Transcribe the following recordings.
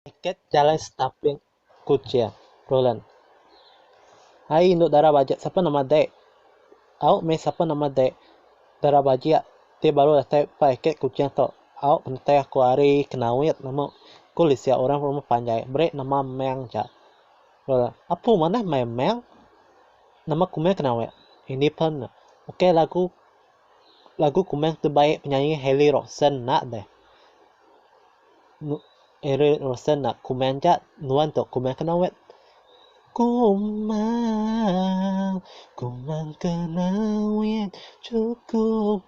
Tiket jalai Stapling Kuching Roland. Ai indu dara bajak sapa nama dek. Au meh sapa nama dek dara bajak ti baru datai ba iket Kuching tu. Au ngetai aku ari Kenawit nama ku lisia orang rumah panjai beri nama Meng ja. Well, apu manah main mel. Nama ku mel kena we. Ini pen ukai lagu lagu ku mel tu baik penyanyi Haley Rockson enda deh. Haley Rockson enda ku mel ja nuan tu ku mel kena we. Ku mel, ku mel kena we cukup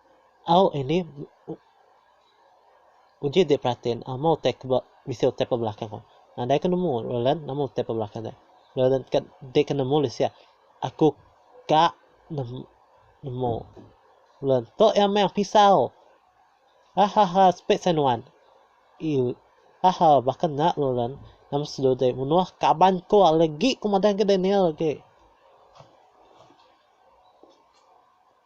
Au ini uji ti peratin ama utai ke ba bisi utai ba belakang au. Nadai ke nemu Roland nama utai ba belakang deh. Roland ka deh ke nemu lisi aku ka nemu. Roland tu iya meh pisau. Hahaha sepit sai nuan. Iu haha baka nya Roland nama sedude menuah kaban ku legi ku madah ke Daniel agi.